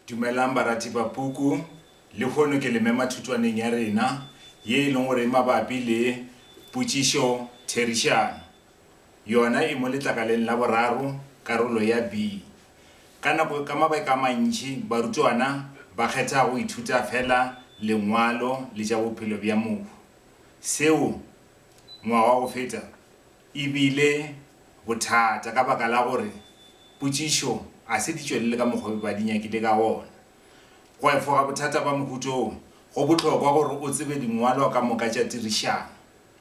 Dumelang barati ba puku, lehono ke le mema thutwaneng ya rena ye e leng gore e mabapi le Potšišo Therišano. Yona e mo letlakaleng la boraro, karolo ya B. Ka nako, ka mabaka a mantši, barutwana ba kgetha go ithuta feela Lengwalo le tša bophelo bja mohu. Seo, ngwaga o feta, E bile bothata ka baka la gore potšišo a se di tšwelele ka mokgwa ba di nyakile ka wona. Go efoga bothata ba mohuta wo, go bohlokwa gore o tsebe dingwalwa ka moka tša tirišano,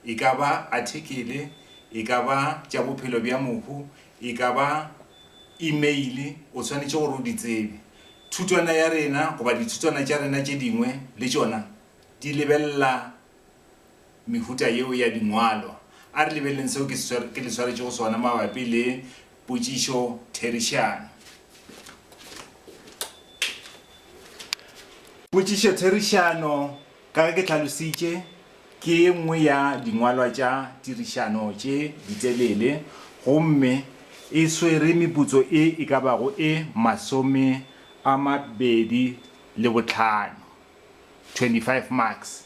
e ka ba athikele, e ka ba tša bophelo bja mohu, e ka ba imeile, o swanetše gore o di tsebe. Thutwana ya rena goba dithutwana tša rena tše dingwe le tšona di lebelela mehuta yeo ya dingwalwa. A re lebeleleng seo ke le swaretšego sona mabapi le potšišotherišano. Potšišotherišano, ka ge ke hlalositše, ke ye nngwe ya dingwalwa tša tirišano tše ditelele gomme e swere meputso e e ka bago e masome a mabedi le bohlano. 25 marks.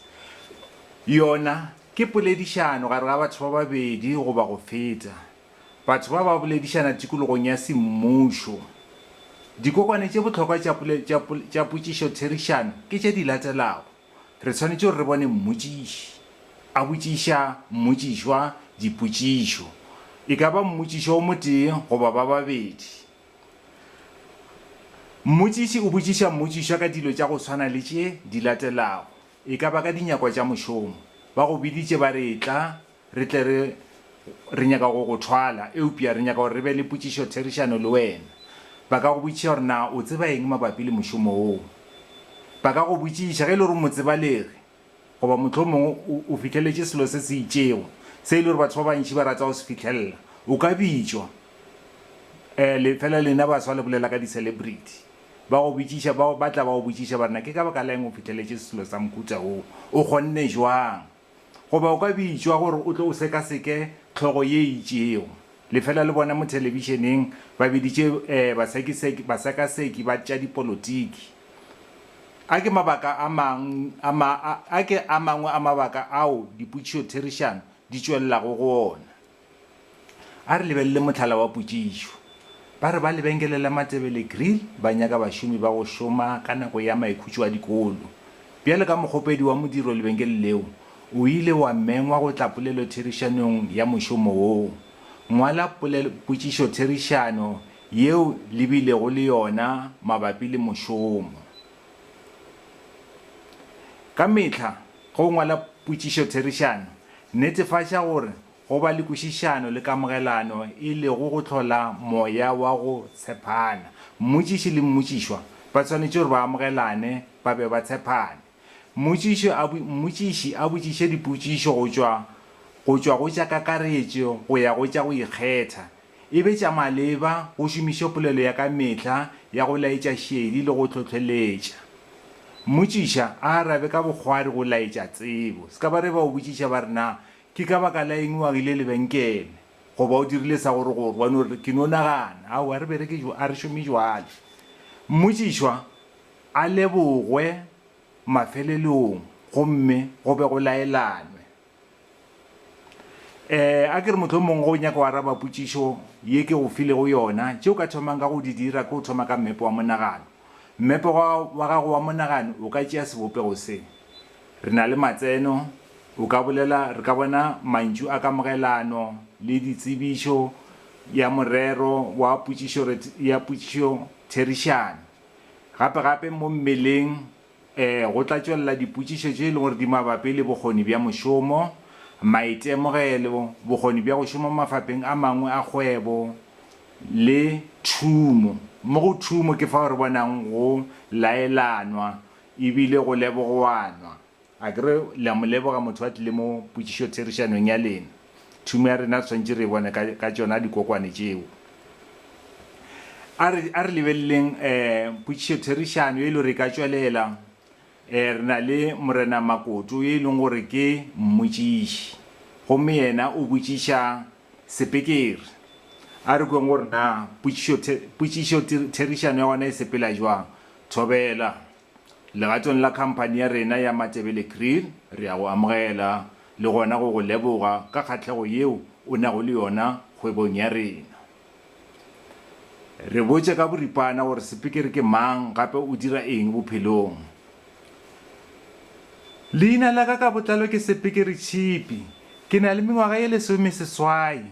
Yona ke poledišano gare ga batho ba babedi goba go feta. Batho ba ba boledišana tikologong ya semmušo. Dikokwane tše bohlokwa tša potšišotherišano ke tše di latelago, Re swanetše gore re bone mmotšiši. A botšiša mmotšišwa dipotšišo. E ka ba mmotšišwa o motee goba ba babedi. Mmotšiši o botšiša mmotšišwa ka dilo tša go swana le tše di latelago, e ka ba ka dinyakwa tša mošomo, Ba go biditše ba re etla re tle re re nyaka go go thwala, eupša re nyaka gore re be le potšišotherišano le wena. Ba ka go botšiša gore na o tseba eng mabapi le mošomo woo. Ba ka go botšiša ge e le gore o motsebalegi, Goba mohlomongwe o, o fihleletše selo se se itšego, se e le gore batho ba bantši ba rata go se fihlelela. O ka bitšwa. Eh, le, feela lena baswa le bolela ka di-celebrity. Ba go bitšiša, ba, ba tla ba go botšiša ba re, Na ke ka baka la eng o fihleletše selo sa mohuta wo? O kgonne bjang? Goba o ka bitšwa gore o tle o sekaseke hlogo ye e itšego. Le feela le bona mo thelebišeneng, ba biditše, eh, basekiseki, basekaseki ba tša dipolotiki. A ke mabaka a mang a ma, a, a ke a mangwe a mabaka ao dipotšišotherišano di tšwelelago go ona? A re lebelele mohlala wa potšišo. Ba re ba lebenkele la Matebele Grill ba nyaka bašomi ba go šoma ka nako ya maikhutšo a dikolo. Bjalo ka mokgopedi wa modiro lebenkele leo, o ile wa mengwa go tla polelotherišanong ya mošomo woo. Ngwala pole, potšišotherišano yeo le bilego le yona mabapi le mošomo. Ka mehla ge o ngwala potšišotherišano, netefatša gore go ba le kwešišano le kamogelano e lego go hlola moya wa go tshepana. Mmotšiši le mmotšišwa ba swanetše gore ba amogelane ba be ba tshepane. Mmotšiši a, mmotšiši a botšiše dipotšišo go tšwa, go tšwa go tša kakaretšo go ya go tša go ikgetha, e be tša maleba, go šomiše polelo ya ka mehla ya go laetša šedi le go hlohleletša. Mmotšiša a arabe ka bokgwari go laetša tsebo. Se ka ba re ba o botšiša ba re, Na ke ka baka la eng o agile lebenkele? Goba o dirile sa gore gore? Wa no re, Ke no nagana. Aowa, a re bereke, a re šome bjale. Mmotšišwa A lebogwe mafeleleong gomme go be go laelanwe. Ee, a ke re mohlomongwe ge o nyaka go araba potšišo ye ke go filego yona, tše o ka thomang ka go di dira ke go thoma ka mmepe wa monagano. Mmepe wa, wa gago wa monagano o ka tšea sebopego se. Re na le matseno, o ka bolela, re ka bona mantšu a kamogelano le ditsebišo ya morero wa potšišo, ya potšišotherišano. Gape-gape mo mmeleng e go tla tšwelela dipotšišo tše e lego gore di mabapi le bokgoni bja mošomo, maitemogelo, bokgoni bja go šoma mafapheng a mangwe a kgwebo le thumo. Mo go thumo ke fao re bonago go laelanwa e bile go lebogoanwa. A ke re le a mo leboga motho a tlile mo potšišotherišanong ya lena? Thumo ya rena re swanetše re e bone ka, ka tšona dikokwane tšeo. A re, a re lebeleleng um potšišotherišano ye e le gore e ka tšwelela. Um re na le Morena Makoto yo e leng gore ke mmotšiši, gomme yena o botšiša sepikere. A re kweng gore na potšišothe, potšišotherišano ya gona e sepela bjang. Thobela. Legatong la khamphani ya rena ya Matebele Kriel, re a go amogela le gona go go leboga ka kgahlego yeo o nago le yona kgwebong ya rena. Re botše ka boripana gore sepikiri ke mang gape o dira eng bophelong. Leina la ka ka botlalo ke Sepikiri Tšhipi. Ke na le mengwaga ye lesomeseswai.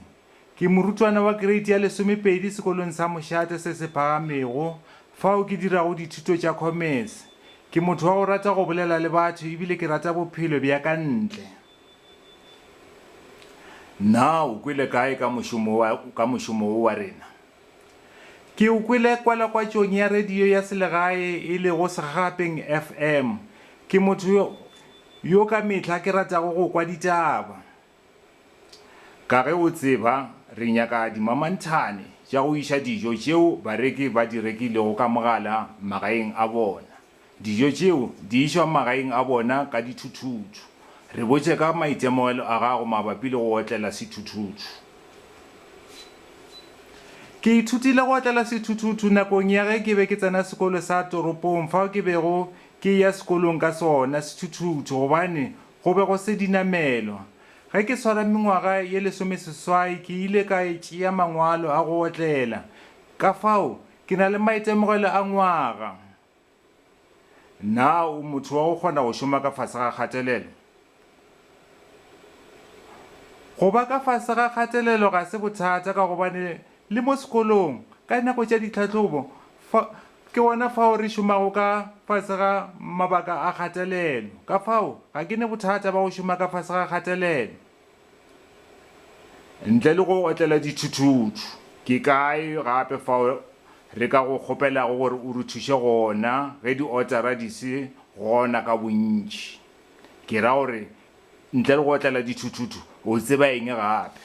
Ke morutwana wa kereiti ya lesomepedi sekolong sa Mošate se se phagamego, fao ke dirago dithuto tša khomese. Ke motho wa go rata go bolela le batho e bile ke rata bophelo bja ka ntle. Na o kwele kae ka mošomo wa, ka mošomo wo wa rena? Ke o kwele kwalakwatšong ya radio ya selegae e lego Segagapeng FM. Ke motho yo, yo ka mehla ke ratago go kwa ditaba. Ka ge o tseba, re nyaka dimamanthane tša go iša dijo tšeo bareki ba di rekilego ka mogala magaeng a bona. Dijo tšeo di išwa magaeng a bona ka dithuthuthu. Re botše ka maitemogelo a gago mabapi le go otlela sethuthuthu. Ke ithutile go otlela sethuthuthu nakong ya ge ke be ke tsena sekolo sa toropong fao ke bego ke eya sekolong ka sona sethuthuthu gobane Go be go se dinamelwa. Ge ke tshwara mengwaga ye lesomeseswai ke ile ka tšea mangwalo a go otlela. Ka fao, ke na le maitemogelo a ngwaga. Na o motho wa go kgona go šoma ka fase ga kgatelelo? Go ba ka fase ga kgatelelo ga se bothata ka gobane Le mo sekolong, ka dinako tša ditlhahlobo, fa, ke gona fao re šomago ka fase ga mabaka a kgatelelo. Ka fao, ga ke ne bothata ba go šoma ka fase ga kgatelelo. Ntle le go otlela dithuthutu, ke kae gape fao re ka go kgopelago gore o re thuše gona ge diotara di se gona ka bontši? Ke ra gore, ntle le go otlela dithuthutu, o tseba eng gape?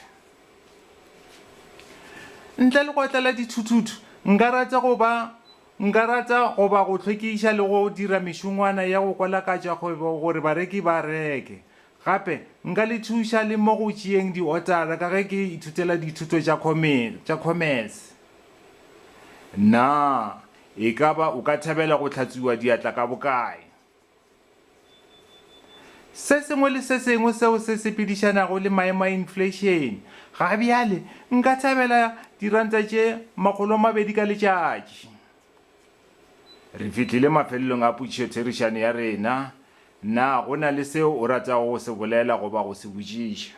Ntle le go otlela dithuthutu, nka rata go ba nka rata go ba go hlwekiša le go dira mešongwana ya go kwalakatša kgwebo gore bareki ba reke. Gape, nka le thuša le mo go tšeeng diotara ka ge ke ithutela dithuto tša tša khomese. Na e ka ba o ka thabela go hlatswiwa diatla ka bokae? Se sengwe le se sengwe seo se sepedišanago le maemo a infleišene. Ga bjale, nka thabela diranta tše makgolo a mabedi ka letšatši. Re fihlile mafelelong a potšišotherišano ya rena. Na go na le seo o ratago go se bolela goba go se botšiša?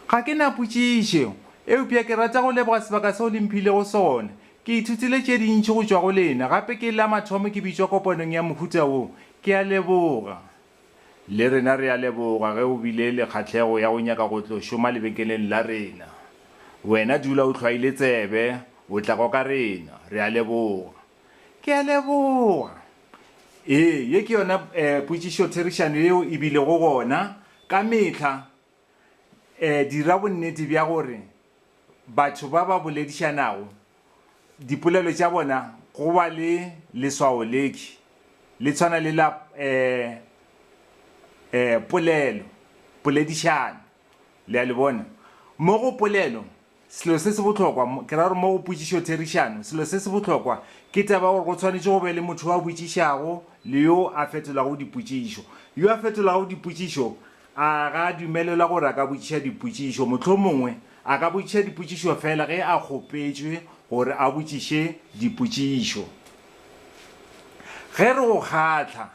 Ga ke na potšišo, eupša ke rata go leboga sebaka seo le mphilego sona. Ke ithutile tše dintši go tšwa go lena, gape ke la mathomo ke bitšwa kopanong ya mohuta wo. Ke a leboga. Le rena re a leboga ge o bile le kgahlego ya go nyaka go tlo šoma lebenkeleng la rena. Wena dula o hlwaile tsebe, o tla kwa ka rena. Re a leboga. Ke a leboga. Ee, ye ke yona potšišotherišano yeo e bilego gona ka mehla. Dira bonnete bja gore batho ba ba boledišanago dipolelo tša bona go ba le leswao le le tshwana le la polelo, poledišano. Le a le bona? Mo go polelo Selo se se bohlokwa, ke ra gore mo go potšišotherišano, selo se se bohlokwa ke taba ya gore go swanetše go be le motho yo a botšišago le yo a fetolago dipotšišo. Yo a fetolago dipotšišo a ga a dumelelwa gore a ka botšiša dipotšišo. Mohlomongwe a ka botšiša dipotšišo feela ge a kgopetšwe gore a botšiše dipotšišo. Ge re go kgahla,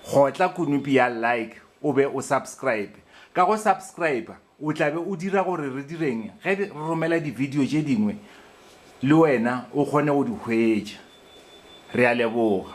kgotla konopi ya Like o be o subscribe. Ka go subscriber, O tla be o dira gore re direng ge re romela dibidio tše dingwe le wena o kgone go di hwetša? Re a leboga.